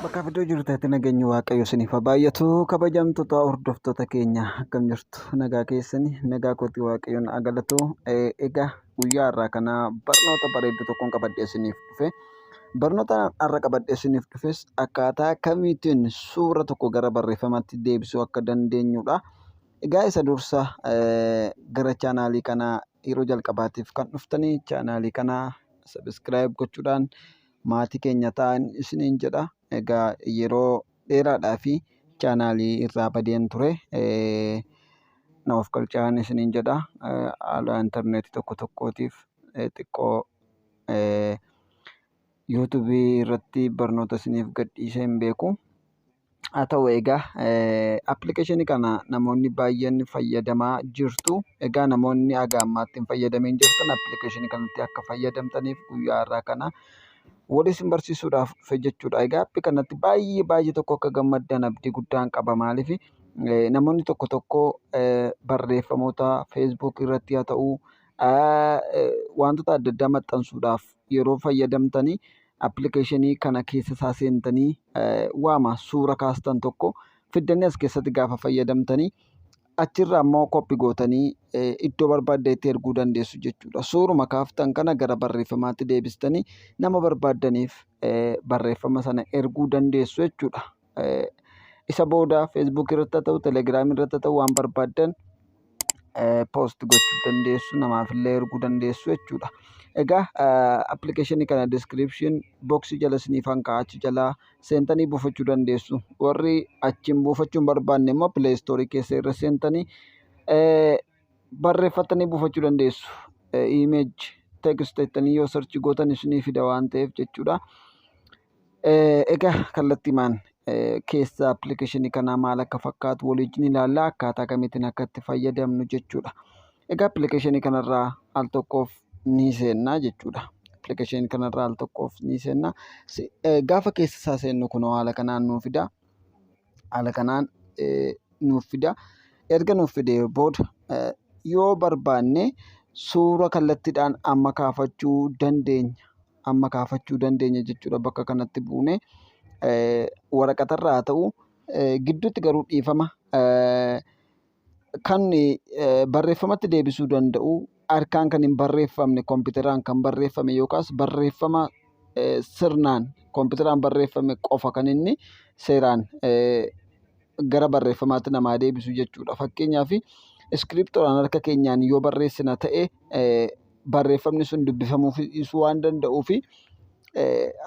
Bakka iddoo jirtanitti nageenyi waaqayyo isiniif haa baay'atu kabajamtoota hordoftoota keenya akkam jirtu nagaa keessani nagaa kootii waaqayyoon haa galatu egaa guyyaa irraa kana barnoota bareedduu tokkoon qabadhee isiniif dhufe. Barnoota har'a qabadhee isiniif dhufes akkaataa kamiitiin suura tokko gara barreeffamaatti deebisuu akka dandeenyudha. Egaa isa dursa gara chaanaalii kanaa yeroo jalqabaatiif kan dhuftanii chaanaalii kana sabiskiraayib gochuudhaan maatii keenya ta'aa isiniin jedha. Egaa yeroo dheeraadhaaf chaanaalii irraa badeen ture. Na of galchaan isiniin jedha. Haala intarneetii tokko tokkootiif xiqqoo YouTube irratti barnoota isiniif gadhiisee hin beeku. Haa ta'u egaa appilikeeshinii kana namoonni baay'een fayyadamaa jirtu. Egaa namoonni haga ammaatti hin fayyadamiin jirtan appilikeeshinii kanatti akka fayyadamtaniif guyyaa har'aa kana wal isin barsiisuudhaaf dhufe jechuudha. Egaa appi kanatti baay'ee baay'ee tokko akka gammaddan abdii guddaan qaba. Maaliif namoonni tokko tokko barreeffamoota Facebook irratti haa ta'u Wantoota adda addaa maxxansuudhaaf yeroo fayyadamtani appilikeeshinii kana keessa isaa seentanii waama suura kaastan tokko fiddanii as keessatti gaafa fayyadamtanii achirraa immoo koppi gootanii iddoo barbaaddeetti erguu dandeessu jechuudha. Suuruma kaaftan kana gara barreeffamaatti deebistanii nama barbaaddaniif barreeffama sana erguu dandeessu jechuudha. Isa booda Facebook irratti haa ta'u, Telegram irratti haa ta'u waan barbaaddan post gochuu dandeessu. Namaaf illee erguu dandeessu jechuudha. Egaa appilikeeshinii kana description box jala isiniif an kaa'a achi jalaa seentanii buufachuu dandeessu. Warri achiin buufachuu hin barbaanne immoo Play Store keessa irra seentanii barreeffattanii buufachuu dandeessu. Image text jettanii yoo search gootan isinii fida waan ta'eef jechuudha. Egaa kallattiimaan keessa appilikeeshinii kanaa maal akka fakkaatu waliin ilaalla akkaataa kamiitiin akka itti fayyadamnu jechuudha. Egaa appilikeeshinii kanarraa al tokkoof ni seenna jechuudha. Appilikeeshinii kanarraa al tokkoof ni seenna. Gaafa keessa isaa seennu kunoo haala kanaan nuuf fida. Haala kanaan nuuf fida. Erga nuuf fidee booda yoo barbaanne suura kallattiidhaan amma kaafachuu dandeenya. amma kaafachuu dandeenya jechuudha bakka kanatti buune waraqatarra haa ta'u gidduutti garuu dhiifama kan barreeffamatti deebisuu danda'u harkaan kan hin barreeffamne kompiitaraan kan barreeffame yookaas barreeffama sirnaan kompiitaraan barreeffame qofa kan inni seeraan gara barreeffamaatti namaa deebisu jechuudha. Fakkeenyaaf iskiriptoodhaan harka keenyaan yoo barreessina ta'e barreeffamni sun dubbifamuufis dhiisuu waan danda'uufi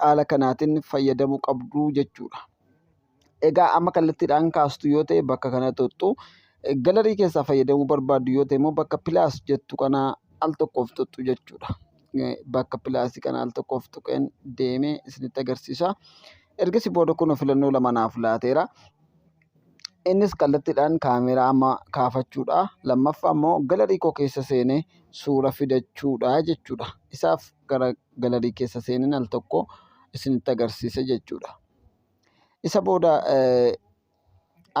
haala kanaatiin fayyadamuu qabdu jechuudha. Egaa amma kallattiidhaan kaastu yoo ta'e bakka kana tuqxu galarii keessaa fayyadamuu barbaaddu yoo ta'e immoo bakka pilaas jettu kana al tokkoof tuqxu jechuudha. Bakka pilaasii kana al tokkoof tuqeen deemee isinitti agarsiisa. Ergasii booda kunoo filannoo lama naaf laateera. Innis kallattiidhaan kaameeraa amma kaafachuudha. Lammaffaa immoo galarii koo keessa seenee suura fidachuudha jechuudha. Isaaf gara galarii keessa seeneen al tokko isinitti agarsiisa jechuudha. Isa booda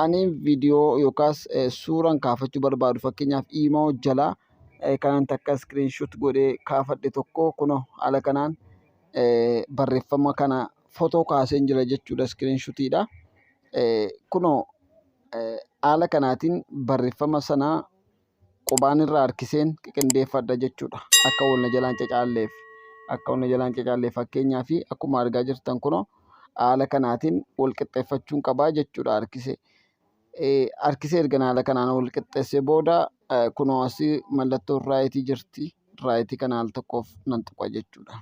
ani viidiyoo yookaas suuraan kaafachuu barbaadu fakkeenyaaf iimoo jalaa kanan takka iskiriinshuut godhee kaafadhe tokko kunoo haala kanaan barreeffama kana fotoo kaaseen jira jechuudha iskiriinshutiidha. Kunoo haala kanaatiin barreeffama sana qubaan irra harkiseen qiqindeeffadha jechuu dha. Akka wal na jalaa hin cacaalleef. Akka wal na jalaa hin cacaalleef. Fakkeenyaaf akkuma argaa jirtan kunoo haala kanaatiin wal qixxeeffachuun qabaa jechuu dha harkisee. Harkisee ergan haala kanaan wal qixxeessee booda kunoo asii mallattoon raayitii jirti. Raayitii kana al tokkoof nan tuqa jechuu dha.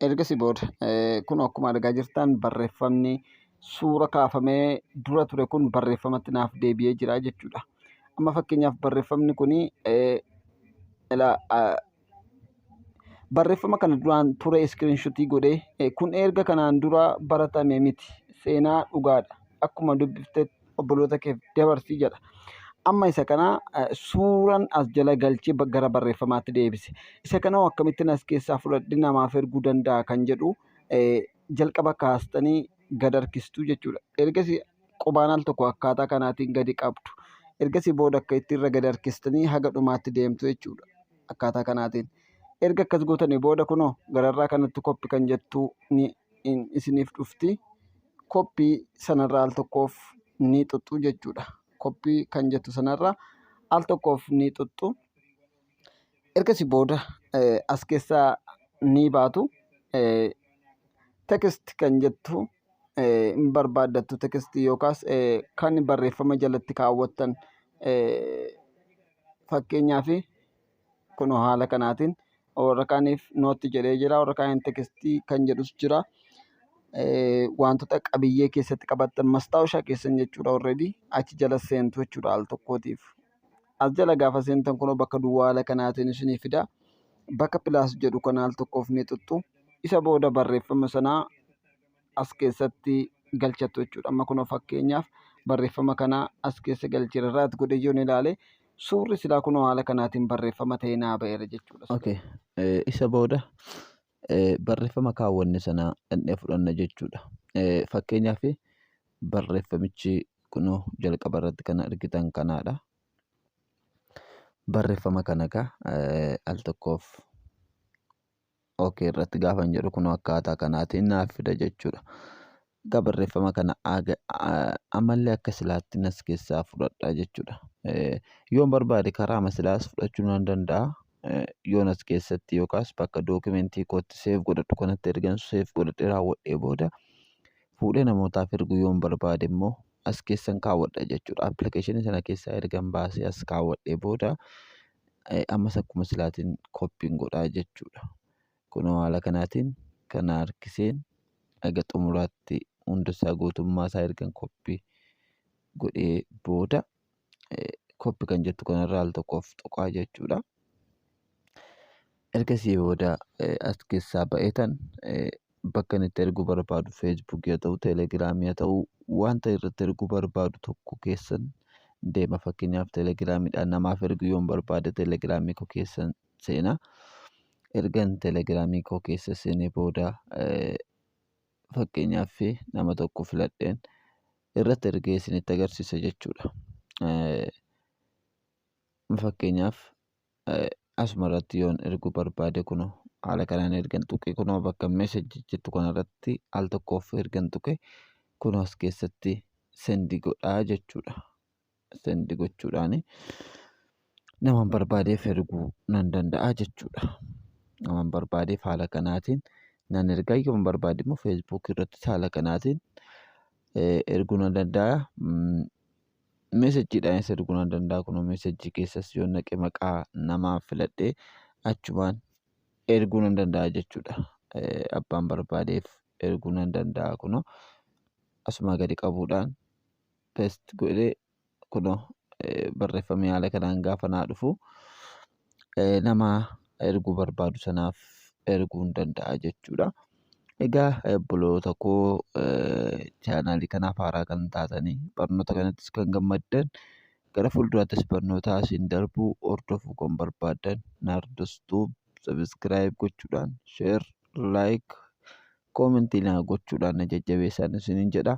Ergasii booda kunoo akkuma argaa jirtan barreeffamni suura kaafamee dura ture kun barreeffamatti naaf deebi'ee jira jechuudha. Amma fakkeenyaaf barreeffamni kun barreeffama kana duraan ture iskiriinshotii godhee kun erga kanaan dura baratame miti seenaa dhugaadha akkuma dubbiftetti obboloota keef dabarsi jedha. Amma isa kana suuran as jala galchee gara barreeffamaatti deebise. Isa kana akkamittiin as keessaa fudhadhe namaaf erguu danda'a kan jedhu jalqaba kaastanii gad harkistuu jechuudha. Ergasii qubaan al tokko akkaataa kanaatiin gadi qabdu. Ergasii booda akka itti irra gadi harkistanii haga dhumaatti deemtu jechuudha. Akkaataa kanaatiin. Erga akkas gootanii booda kunoo gararraa kanatti koppi kan jettu ni in isiniif dhufti koppii sanarraa al tokkoof ni xuxxu jechuudha koppii kan jettu sanarraa al tokkoof ni xuxxu ergasi booda as keessaa ni baatu tekst kan jettu hin barbaaddattu tekst yookaas kan barreeffama jalatti kaawwattan fakkeenyaaf Kunoo haala kanaatiin warra kaaniif nootti jedhee jira. Warra kaaniin tekstii kan jedhus jira. Wantoota qabiyyee keessatti qabattan mastaawushaa keessan jechuudha already achi jala seentu jechuudha al tokkootiif. As jala gaafa seentan kunoo bakka duwwaa haala kanaatiin isinii fida. Bakka pilaas jedhu kana al tokkoof ni xuxxu. Isa booda barreeffama sanaa as keessatti galchattu jechuudha. Amma kunoo fakkeenyaaf barreeffama kana as keessa galcheera irraat godhe yoon ilaale suurri silaa kunoo haala kanaatiin barreeffama ta'ee naa ba'eera jechuudha. Okay. Eh, isa booda eh, barreeffama kaawwanne sana dhandhee fudhanna jechuudha. Eh, fakkeenyaaf barreeffamichi kunoo jalqaba irratti kan argitan kanaadha. Barreeffama kana egaa eh, al tokkoof OK irratti gaafan jedhu kun akkaataa kanaatiin naaf fida jechuudha. Egaa barreeffama kana ammallee akka silaatti nas keessaa fudhadha jechuudha. Yoon barbaade karaa masilaas fudhachuu nan danda'a. Yoon as keessatti yookaas bakka dookimentii kootti seef godhadhu kanatti ergan seef godhadhee raawwadhee booda fuudhee namootaaf erguu yoon barbaade immoo as keessan kaawwadha jechuudha. Appilikeeshinii sana keessaa ergan baasee as kaawwadhee booda ammas akkuma silaatiin koppiin godhaa jechuudha. Kunoo haala kanaatiin kana harkiseen haga xumuraatti hundasaa guutummaa isaa ergan koppii godhee booda copy kan jettu kanarra al tokkoof tuqaa jechuudha. Ergasii booda as keessaa ba'eetan bakka inni itti erguu barbaadu Facebook yaa ta'u Telegram yaa ta'u wanta irratti erguu barbaadu tokko keessan deema fakkeenyaaf Telegramiidhaan namaaf erguu yoon barbaade Telegramii koo keessan seena. Ergan Telegramii koo keessa seenee booda fakkeenyaaf nama tokko filadheen irratti ergee isinitti agarsiisa jechuudha. Fakkeenyaaf asuma irratti yoon erguu barbaade kunoo haala kanaan ergan tuqe kunoo bakka message jettu kanarratti al tokkoof ergan tuqe kunoo as keessatti sendi godhaa jechuudha. send gochuudhaan naman barbaadeef erguu nan danda'a jechuudha. Naman barbaadeef haala kanaatiin nan erga yoon barbaade immoo facebook irratti haala kanaatiin erguu nan danda'a. Mesejidhaanis erguu nan danda'a kunoo mesejii keessas yoon naqe maqaa namaa filadhee achumaan erguu nan danda'a jechuudha. Abbaan barbaadeef erguu nan danda'a kunoo asumaa gadi qabuudhaan. pest godhe kuno barreeffamee haala kanaan gaafa naa dhufu nama erguu barbaadu sanaaf erguu hin danda'a jechuudha. Egaa obboloota koo chaanaalii kanaaf haaraa kan taatanii barnoota kanattis kan gammaddan gara fuulduraattis barnootaa isin darbuu hordofuu kan barbaaddan Naardos Tuub sabiskiraayib gochuudhaan sheer laayik koomentii naa gochuudhaan na jajjabeessaan isiniin jedha.